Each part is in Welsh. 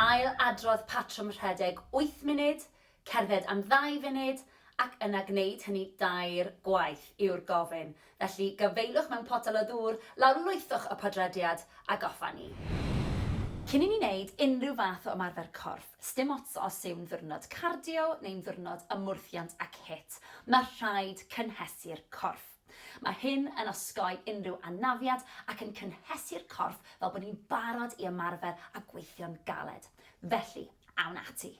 Ail-adrodd patrwm rhedeg wyth munud, cerdded am ddau funud, ac yna gwneud hynny dair gwaith, yw'r gofyn. Felly, gafaelwch mewn potel o ddŵr, lawrlwythwch y podlediad, a goffa ni! Cyn i ni wneud unrhyw fath o ymarfer corff, sdim ots os yw'n ddiwrnod cardio neu'n ddiwrnod ymwrthiant ac HIIT, mae rhaid cynhesu'r corff. Mae hyn yn osgoi unrhyw anafiad ac yn cynhesu'r corff fel bod ni'n barod i ymarfer a gweithio'n galed. Felly, awn ati!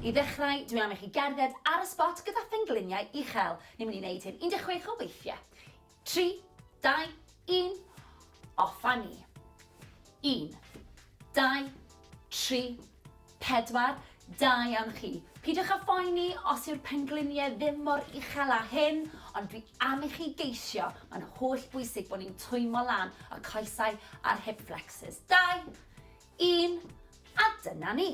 I ddechrau, dwi am i chi gerdded ar y sbot gyda phengliniau uchel. Ni'n mynd i wneud hyn 16 o weithiau. Tri, dau, un, off a ni! Un, dau, tri, Pedwar, Da iawn chi. Peidiwch â phoeni os yw'r pengliniau ddim mor uchel â hyn, ond dwi am i chi geisio, mae'n holl bwysig bod ni'n twymo lan y coesau a'r hip flexors. Dau, un, a dyna ni.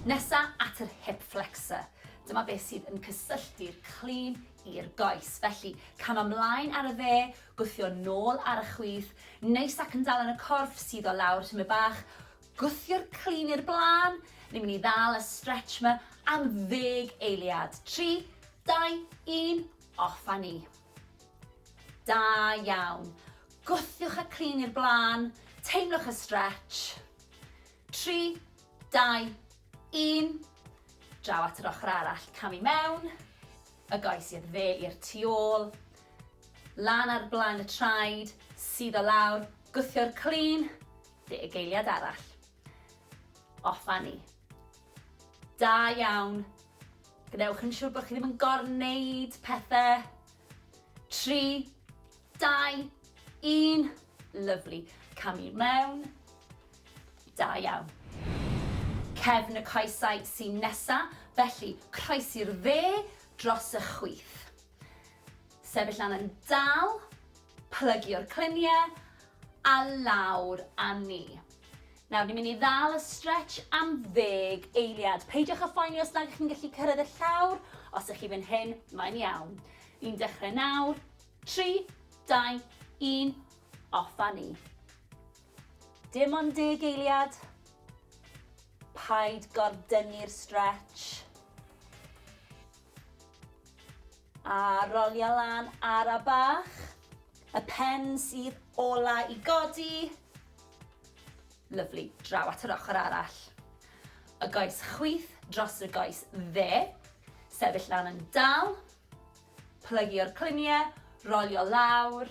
Nesa at yr hip flexor. Dyma beth sydd yn cysylltu'r clean i'r goes. Felly, cam ymlaen ar y dde, gwthio nôl ar y chwith, neis ac yn dal yn y corff, suddo lawr tymed bach, Gwthio'r clun i'r blaen, ni'n mynd i ddal y stretch ma am ddeg eiliad. Tri, dau, un, off a ni. Da iawn. Gwthiwch y clun i'r blaen, teimlwch y stretch. Tri, dau, un. Draw at yr ochr arall, cam i mewn, y goes i'r dde i'r tu ôl, lan ar blaen y traed, sydd o lawr, gwthio'r clun, Lle y geiliad arall. Off fan ni. Da iawn. Gwnewch yn siŵr bod chi ddim yn gorneud pethau. Tri, dau, un. Lyflu. Cam i'r mewn. Da iawn. Cefn y coesau sy'n nesa, felly croesi'r dde dros y chwith. Sefyll lan yn dal, plygio'r cluniau a lawr â ni. Nawr, ni'n mynd i ddal y stretch am ddeg eiliad. Peidiwch â phoeni os nad ydych chi'n gallu cyrraedd y llawr, os ydych chi fan hyn, mae'n iawn. Ni'n dechrau nawr, 3, 2, 1, off â ni. Dim ond deg eiliad. Paid gordynnu'r stretch. A rolia lan ara bach. Y pen sydd ola i godi. Lyfli, draw at yr ochr arall. Y goes chwith dros y goes dde. Sefyll lan yn dal. Plygio'r cluniau, rolio lawr.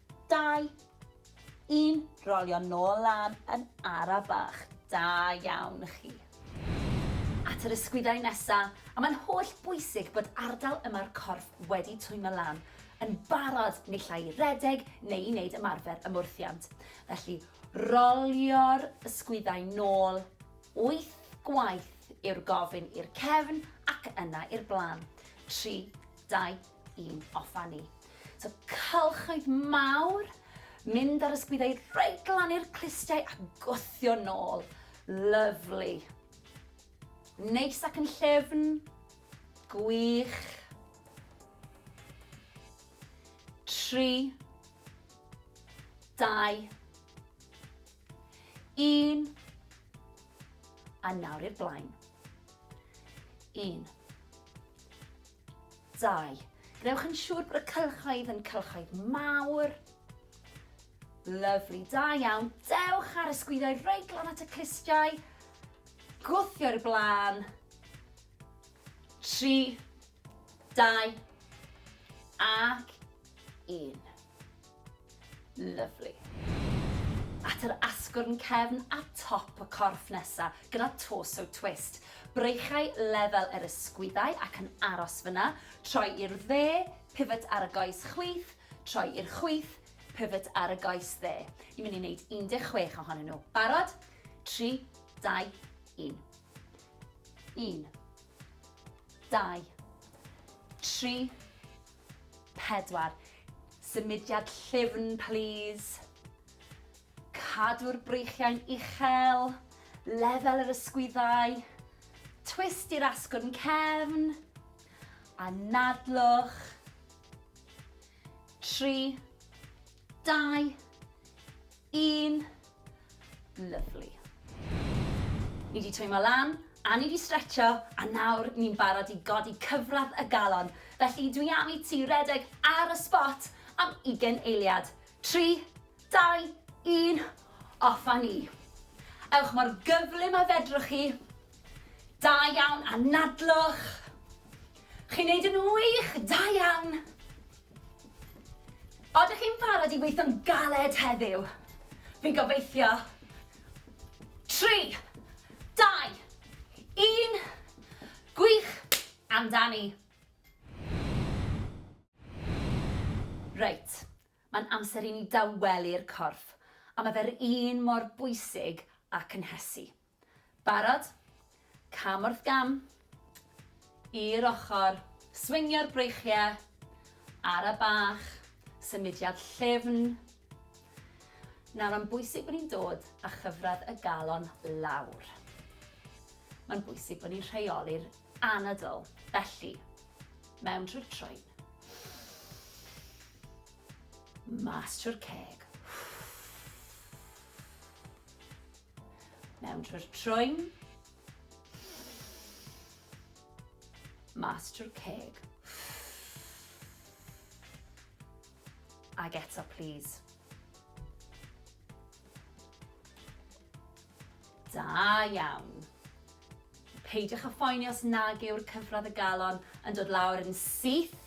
Dau. Un. Rolio nôl lan yn ara bach. Da iawn chi. At yr ysgwyddau nesa, a mae'n holl bwysig bod ardal yma'r corff wedi twymo lan, yn barod naill ai i redeg neu i wneud ymarfer ymwrthiant. Felly, rolio'r ysgwyddau nôl wyth gwaith yw'r gofyn i'r cefn ac yna i'r blaen. Tri, dau, i'n offa ni. So cylchoedd mawr, mynd ar ysgwyddau reit glan i'r clustiau a gwthio nôl. Lyflu. Neis ac yn llefn. Gwych. Tri. Dau. Un. A nawr i'r blaen. Un. 2. Gwnewch yn siŵr bod y cylchoedd yn cylchoedd mawr. Lyfli, da iawn. Dewch ar y sgwyddoedd reit glan at y clustiau. Gwthio i'r blaen. 3, 2, ac 1. Lyfli. At yr asgwrn cefn a top y corff nesa, gyda torso twist. Breichau lefel yr ysgwyddau ac yn aros fyna, troi i'r dde, pivot ar y goes chwith, troi i'r chwith, pivot ar y goes dde. Ni'n mynd i wneud 16 ohonyn nhw. Barod? 3, 2, 1. 1, 2, 3, 4. Symudiad llyfn plîs. Cadw'r breichiau'n uchel, lefel yr ysgwyddau, twist i'r asgwrn cefn, anadlwch. 3. Dau. Un. Lyfli. Ni wedi twymo lan, a ni wedi stretcho, a nawr ni'n barod i godi cyfradd y galon. Felly dwi am i ti redeg ar y spot am ugen eiliad. Tri, dau, un, off a ni. Ewch mor gyflym a fedrwch chi. Da iawn, anadlwch. Chi'n neud yn wych, da iawn. Oeddech chi'n barod i weithio'n galed heddiw? Fi'n gobeithio. Tri, dau, un, gwych amdani. Reit, mae'n amser i ni dawelu'r corff a mae fe'r un mor bwysig â cynhesu. Barod? Cam wrth gam. I'r ochr. Swingio'r breichiau. Ara bach. Symudiad llyfn. Nawr mae'n bwysig bod ni'n dod â chyfradd y galon lawr. Mae'n bwysig bod ni'n rheoli'r anadl. Felly, mewn trwy'r troed. Mas trwy'r ceg. Mewn trwy'r trwyn. Mas trwy'r ceg. Ag eto, please. Da iawn. Peidiwch a phoeni os nag yw'r cyfradd y galon yn dod lawr yn syth.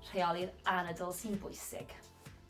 Rheoli'r anadl sy'n bwysig.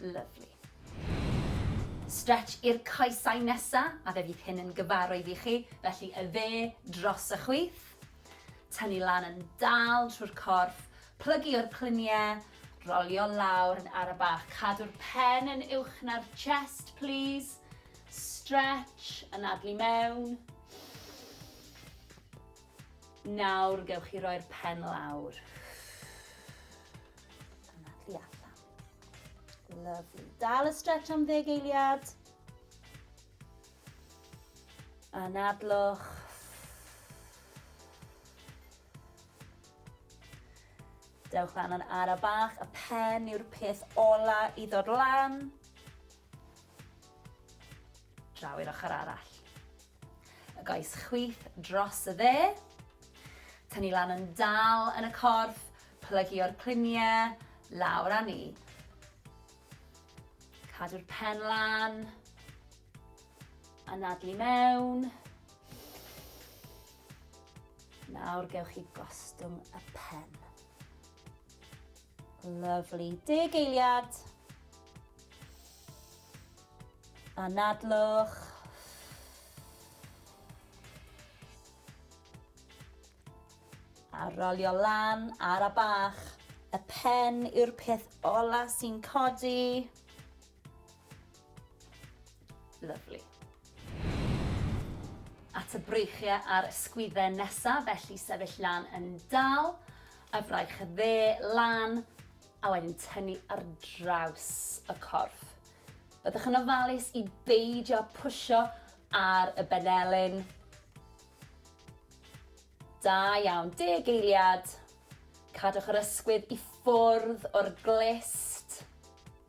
Lyfli. Stretch i'r coesau nesa, a fe fydd hyn yn gyfarwydd i chi, felly y dde dros y chwith. Tynnu lan yn dal trwy'r corff, plygu o'r clunie, rolio lawr yn ara bach. Cadw'r pen yn uwch na'r chest, plîs. Stretch, anadlu mewn. Nawr gewch chi roi'r pen lawr. Yna, tu allan. Lovely. Dal y stretch am ddeg eiliad. Anadlwch. Dewch lan yn ara bach, y pen yw'r peth ola i ddod lan. Draw i'r ochr arall. Y goes chwith dros y dde. Tynnu lan yn dal yn y corff, plygu o'r cliniau, lawr a ni. Cadw'r pen lan. Anadlu mewn. Nawr gewch chi gostwng y pen. Lyfli. Deg eiliad. Anadlwch. A rolio lan ar a bach. Y pen yw'r peth ola sy'n codi. Lyfli. At y breichiau a'r ysgwydden nesaf, felly sefyll lan yn dal, y fraich y dde lan, a wedyn tynnu ar draws y corff. Byddwch yn ofalus i beidio pwysio ar y benelin. Da iawn, deg eiliad. Cadwch yr ysgwydd i ffwrdd o'r glist.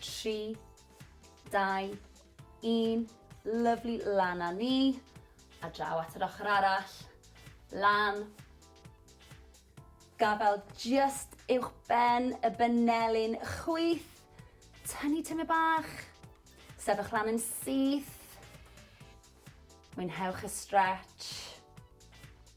3, 2, 1, lyfli, lan a ni, a draw at yr ochr arall, lan, gafael just uwch ben y benelin, chwyth, tynnu tyme bach, sefych lan yn syth, mwynhewch y stretch,